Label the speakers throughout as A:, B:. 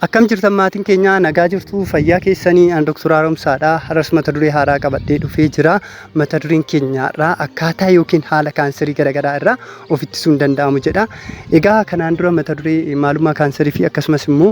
A: Akkam jirtan maatiin keenya nagaa jirtu fayyaa keessanii an Dr. Haaromsaadha. Har'as mata duree haaraa qabadhee dhufee jira. Mata dureen keenya irraa akkaataa yookiin haala kaansarii garaagaraa irraa of ittisuun danda'amu jedha. Egaa kanaan dura mata duree maalummaa kaansarii fi akkasumas immoo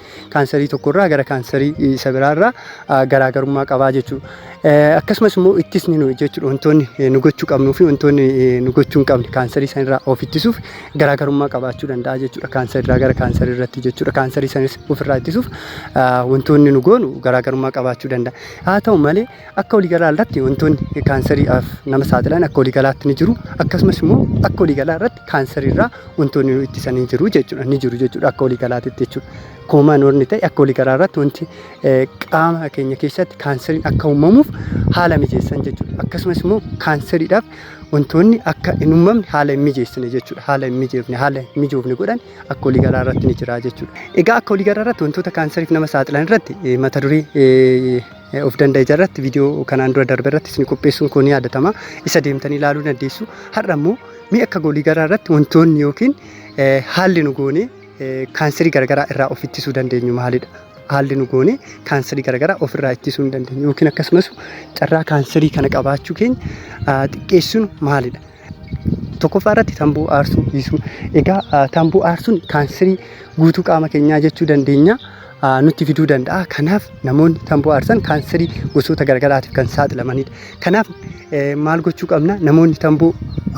A: kaansarii tokkorraa gara kaansarii isa biraarraa ah, garaagarummaa qabaa jechuudha. Eh, Akkasumas immoo ittisni nuyi jechuudha wantoonni eh, nu gochuu qabnuu fi wantoonni eh, nu gochuu hin qabne kaansarii sanirraa of ittisuuf garaagarummaa qabaachuu danda'a jechuudha. Kaansarirraa gara kaansarii irratti jechuudha. Kaansarii sanis ofirraa ittisuuf ah, wantoonni nu goonu garaagarummaa qabaachuu danda'a. Haa ta'u malee Akka waliigalaa irratti wantoonni kaansariidhaaf nama saaxilan akka waliigalaatti ni jiru. Akkasumas immoo akka waliigalaa irratti kaansarii irraa wantoonni nu ittisan ni jiru jechuudha. Ni jiru jechuudha akka waliigalaatti jechuudha. Koomaan warni ta'e akka waliigalaa irratti wanti qaama keenya keessatti kaansariin akka uumamuuf haala mijeessan jechuudha. Akkasumas immoo kaansariidhaaf wantoonni akka hin uumamne haala hin mijeessine jechuudha. Haala hin mijeefne haala hin mijoofne godhan akka waliigalaa irratti ni jira jechuudha. Egaa akka waliigalaa irratti wantoota kaansariif nama saaxilan irratti mata duree eh, of danda'a irratti viidiyoo kanaan dura darbe irratti isin qopheessuun koo ni yaadatama. Isa deemtanii ilaaluu dandeessu. Har'a immoo mi'a akka goolii garaa irratti wantoonni yookiin eh, haalli nu goonee eh, kaanserii garaagaraa irraa of ittisuu dandeenyu maalidha? Haalli nu goonee kaanserii garaagaraa of irraa ittisuu hin dandeenyu yookiin akkasumas carraa kaanserii kana qabaachuu keenya ah, xiqqeessuun maalidha? Tokkoffaa irratti tamboo aarsuu dhiisuu. Egaa ah, tamboo aarsuun kaanserii guutuu qaama keenyaa jechuu dandeenya. ah, nutti fiduu danda'a. Kanaaf namoonni tamboo aarsan kaanserii gosoota garaagaraatiif kan saaxilamanidha. Kanaaf eh, maal gochuu qabna? Namoonni tamboo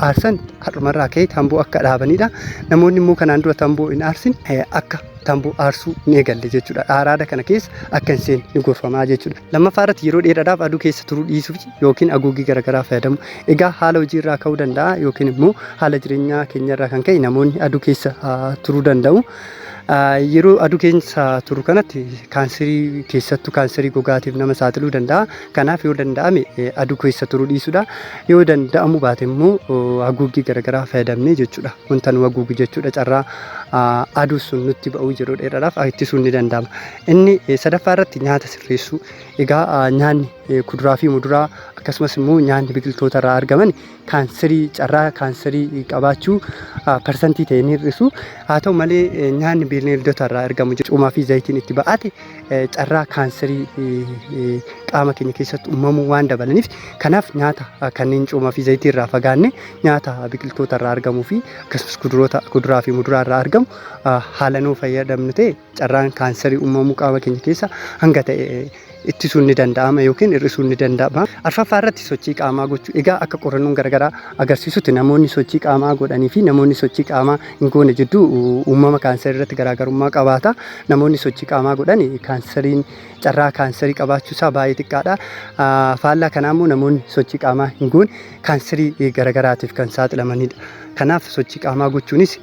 A: aarsan har'umarraa ka'ee tamboo akka dhaabanidha. Namoonni immoo kanaan dura tamboo hin aarsin eh, akka tamboo aarsuu ni eegalle jechuudha. Araada kana keessa akka hin seenne ni gorfamaa jechuudha. Lammaffaa irratti yeroo dheeraadhaaf aduu keessa turuu dhiisuu yookiin haguuggii garaagaraa fayyadamu. Egaa haala hojii irraa ka'uu danda'a yookiin immoo haala jireenyaa keenya irraa kan ka'e namoonni aduu keessa turuu danda'u. Yeroo aduu keessa turu kanatti kaanserii keessattuu kaanserii gogaatiif nama saaxiluu danda'a. Kanaaf yoo danda'ame aduu keessa turuu dhiisudha. Yoo danda'amu baate immoo haguuggii garaagaraa fayyadamnee jechuudha. Wanta nu haguugu jechuudha carraa aduu sun nutti ba'uu yeroo dheeraadhaaf ittisuun ni danda'ama. Inni sadaffaa irratti nyaata sirreessuu. Egaa nyaanni kuduraa fi muduraa akkasumas immoo nyaanni biqiltoota irraa argaman kaanserii carraa kaanserii qabaachuu parsantii ta'e ni hir'isu. Haa ta'u malee nyaanni bineeldota irraa argamu cumaa fi zayitiin itti ba'ate carraa kaanserii qaama keenya keessatti uumamuu waan dabalaniif kanaaf nyaata kanneen cumaa fi zayitii irraa fagaanne nyaata biqiltoota irraa argamuu fi akkasumas kuduroota kuduraa fi muduraa irraa argamu haala nuu fayyadamnu ta'e carraan kaansarii uumamuu qaama keenya keessa hanga ta'e ittisuun ni danda'ama yookiin hir'isuun ni danda'ama. Arfaffaa irratti sochii qaamaa gochuu. Egaa akka qorannoon garaagaraa agarsiisutti namoonni sochii qaamaa godhanii fi namoonni sochii qaamaa hin goone jidduu uumama kaansarii irratti garaagarummaa qabaata. Namoonni sochii qaamaa godhan kaansariin carraa kaansarii qabaachuu isaa baay'ee xiqqaadha. Faallaa kanaa immoo namoonni sochii qaamaa hin goone kaanserii garagaraatiif kan saaxilamanidha. Kanaaf sochii qaamaa gochuunis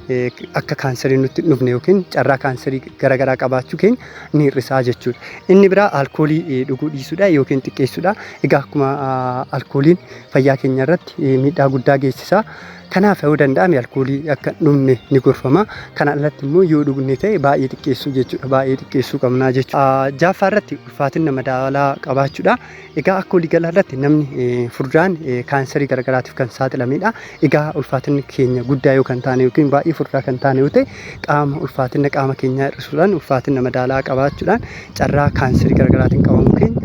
A: akka kaanserii nutti hin dhufne yookiin carraa kaanserii garagaraa qabaachuu keenya ni hir'isaa jechuudha. Inni biraa alkoolii dhuguu dhiisuudha yookiin xiqqeessuudha. Egaa akkuma alkooliin fayyaa keenya irratti miidhaa guddaa geessisa. Kanaaf yoo danda'ame alkoolii akka hin dhugne ni gorfama. Kana alatti immoo yoo dhugne ta'e baay'ee xiqqeessuu jechuudha. Baay'ee xiqqeessuu qabna jechuudha. Jaaffaa irratti ulfaatina madaalaa qabaachuudha. Egaa akka waliigalaa irratti namni eh, furdaan eh, kaansarii garaagaraatiif kan saaxilamedha. Egaa ulfaatinni keenya guddaa yoo kan taane yookiin baay'ee furdaa kan taane yoo ta'e qaama ulfaatina qaama keenyaa hir'isuudhaan ulfaatina madaalaa qabaachuudhaan carraa kaansarii garaagaraatiin qabamuu keenya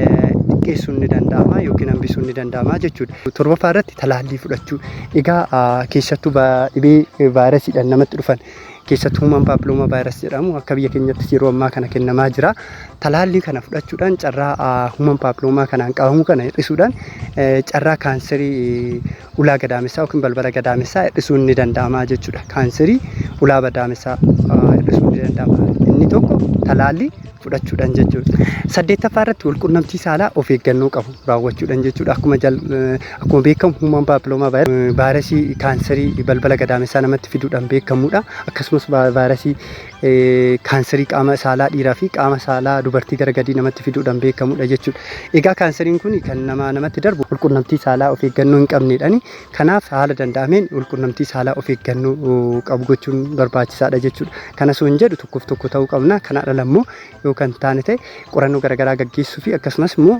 A: eh, xiqqeessuun ni danda'ama yookiin hambisuun ni danda'ama jechuudha. Torbaffaa irratti talaallii fudhachuu. Egaa ah, keessattuu ba- dhibee eh, vaayirasiidhaan namatti dhufan keessattuu human paappilooma vaayirasii jedhamu akka biyya keenyattis yeroo ammaa kana kennamaa jira. Talaallii kana fudhachuudhaan carraa human paappilooma kanaan qabamuu kana hir'isuudhaan carraa kaanserii ulaa gadaamessaa yookiin balbala gadaamessaa hir'isuun ni danda'ama jechuudha. Kaanserii ulaa gadaamessaa hir'isuun ni danda'ama. Inni tokko talaallii fudhachuudhaan jechuudha. Saddeettaffaa irratti walqunnamtii saalaa of eeggannoo qabu raawwachuudhaan jechuudha. Akkuma jal akkuma beekamu human papilloma virus vaayirasii kaansarii balbala gadaamessaa namatti fiduudhaan beekamudha. Akkasumas va- vaayirasii eh, kaansarii qaama saalaa dhiiraa fi qaama saalaa dubartii gara gadii namatti fiduudhaan beekamudha jechuudha. Egaa kaansariin kun kan namaa namatti darbu walqunnamtii saalaa of eeggannoo hin qabneedhani. Kanaaf haala danda'ameen walqunnamtii saalaa of eeggannoo qabu gochuun barbaachisaadha jechuudha. Kana osoo hin jedhu tokkoof tokko ta'uu qabna. Kana ala immoo yoo kan taane ta'e qorannoo garaagaraa gaggeessuu fi akkasumas immoo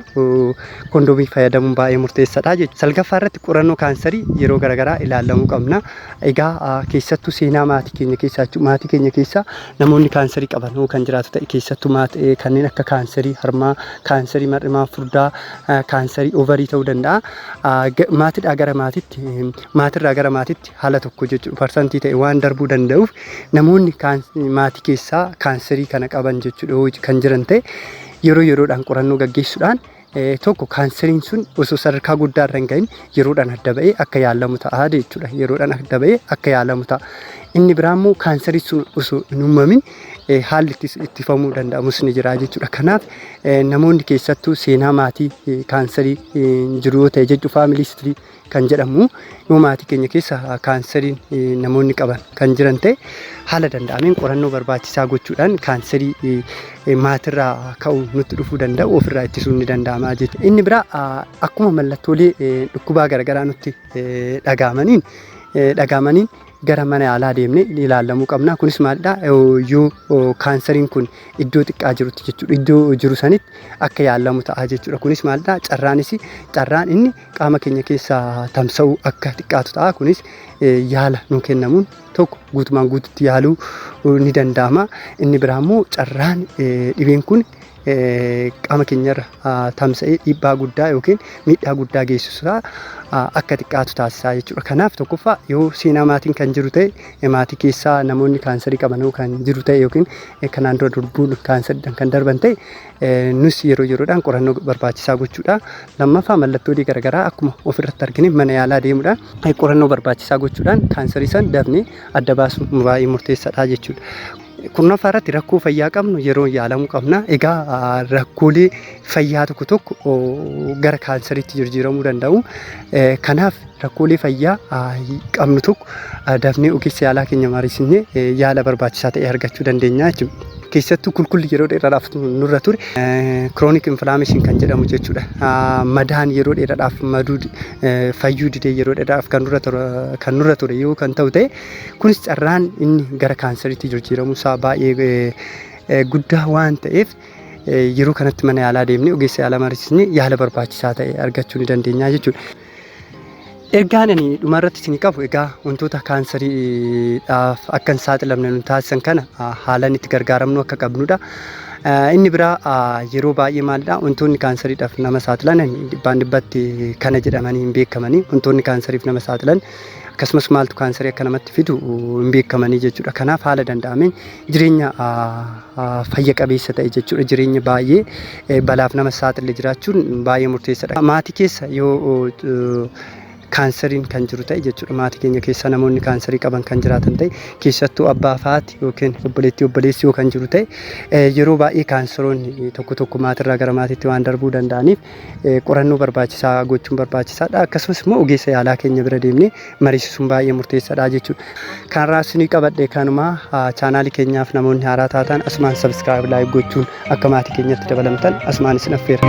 A: kondomii fayyadamuun baay'ee murteessaadha jechuudha. Salgaffaa irratti qorannoo kaansarii yeroo garaagaraa ilaallamuu qabna. Egaa keessattuu seenaa maatii keenya keessaa jechuudha. Maatii keenya keessaa namoonni kaansarii qaban yoo kan jiraatu ta'e keessattuu maatii kanneen akka kaansarii harmaa, kaansarii mar'imaa furdaa, kaansarii ovarii ta'uu danda'a. maatidhaa gara maatitti maatirraa gara maatitti haala tokko jechuudha parsantii ta'e waan darbuu danda'uuf namoonni maatii keessaa kaanserii kana qaban jechuudha kan jiran ta'e yeroo yeroodhaan qorannoo gaggeessuudhaan tokko kaanseriin sun osoo sadarkaa guddaa irra hin gahin yeroodhaan adda ba'ee akka yaalamu ta'a jechuudha yeroodhaan adda ba'ee akka yaalamu ta'a inni biraa immoo kaanserii sun osoo hin uumamin eh, haalli itti ittifamuu danda'amus ni jira jechuudha. Kanaaf eh, namoonni keessattuu seenaa maatii eh, kaansarii eh, jiru yoo ta'e jechuudha faamilii istirii kan jedhamu yoo maatii keenya keessa ah, kaansariin eh, namoonni qaban kan jiran ta'e haala danda'ameen qorannoo barbaachisaa gochuudhaan kaansarii eh, eh, maatirraa ka'u nutti dhufuu danda'u ofirraa ittisuun ni danda'ama jechuudha. Inni biraa ah, akkuma mallattoolee eh, dhukkubaa garaagaraa nutti eh, dhaga'amaniin eh, dhaga'amaniin gara mana yaalaa deemnee ilaallamuu qabna. Kunis maalidha? Yoo kaansariin kun iddoo xiqqaa jirutti jechuudha. Iddoo jiru sanitti akka yaallamu ta'a jechuudha. Kunis maalidha? Carraanis carraan inni qaama keenya keessa tamsa'uu akka xiqqaatu ta'a. Kunis yaala nu kennamuun tokko guutumaan guututti yaaluu ni danda'ama. Inni biraa immoo carraan dhibeen kun qaama keenyarra tamsa'ee dhiibbaa guddaa yookiin miidhaa guddaa geessisaa akka xiqqaatu taasisaa jechuudha. Kanaaf tokkoffaa yoo seenaa maatiin kan jiru ta'e maatii keessaa namoonni kaansarii qaban yoo kan jiru ta'e yookiin kanaan dura durbuun kaansaridhaan kan darban ta'e nus yeroo yeroodhaan qorannoo barbaachisaa gochuudha. Lammaffaa mallattoolee garaagaraa akkuma ofirratti argine mana yaalaa deemuudhaan qorannoo barbaachisaa gochuudhaan kaansarii san dafnee adda baasuun baay'ee murteessaadha jechuudha. Kurnaffaa irratti rakkoo fayyaa qabnu yeroo yaalamuu qabna. Egaa ah, rakkoolee fayyaa tokko tokko oh, gara kaansariitti jijjiiramuu danda'u. Eh, Kanaaf rakkoolee fayyaa ah, qabnu tokko ah, dafnee ogeessa yaalaa keenya mariisisnee eh, yaala barbaachisaa ta'e argachuu dandeenya jechuudha. Keessattuu kulkulli yeroo dheeraadhaaf nurra ture kiroonik inflaameshin kan jedhamu jechuudha. Ah, Madaan yeroo dheeraadhaaf maduu eh, fayyuu didee yeroo dheeraadhaaf kan nurra ture- kan nurra ture yoo kan ta'u ta'e Kunis carraan inni gara kaansariitti jijjiiramuu isaa baay'ee guddaa waan ta'eef yeroo kanatti mana yaalaa deemnee ogeessa yaalaa mariisisnee yaala barbaachisaa ta'e argachuu ni dandeenya jechuudha. Ergaan ani dhuma irratti isin qabu egaa wantoota kaansariidhaaf akka hin saaxilamne nu taasisan kana haalaan itti gargaaramnu akka qabnudha. Inni biraa yeroo baay'ee maalidha wantoonni kaansariidhaaf nama saaxilan dhibbaan dhibbatti kana jedhamanii hin beekamani wantoonni kaansariif nama saaxilan akkasumas maaltu kaansarii akka namatti fidu hin beekamanii jechuudha. Kanaaf haala danda'ameen jireenya fayya qabeessa ta'e jechuudha. Jireenya baay'ee balaaf nama saaxile jiraachuun baay'ee murteessaadha. Maatii keessa yoo kaansariin kan jiru ta'e jechuudha. Maatii keenya keessa namoonni kaansarii qaban kan jiraatan ta'e keessattuu abbaa faati yookiin obboleettii obboleessi yoo kan jiru ta'e yeroo baay'ee kaansaroonni tokko tokko maatirraa gara maatiitti waan darbuu danda'aniif qorannoo barbaachisaa gochuun barbaachisaadha. Akkasumas immoo ogeessa yaalaa keenya bira deemnee mariisisuun baay'ee murteessaadha jechuudha. Kanarraa isinii qabadhe kanuma chaanaalii keenyaaf namoonni haaraa taatan asumaan sabiskiraayib laayik gochuun akka maatii keenyatti dabalamtan asumaan isin affeera.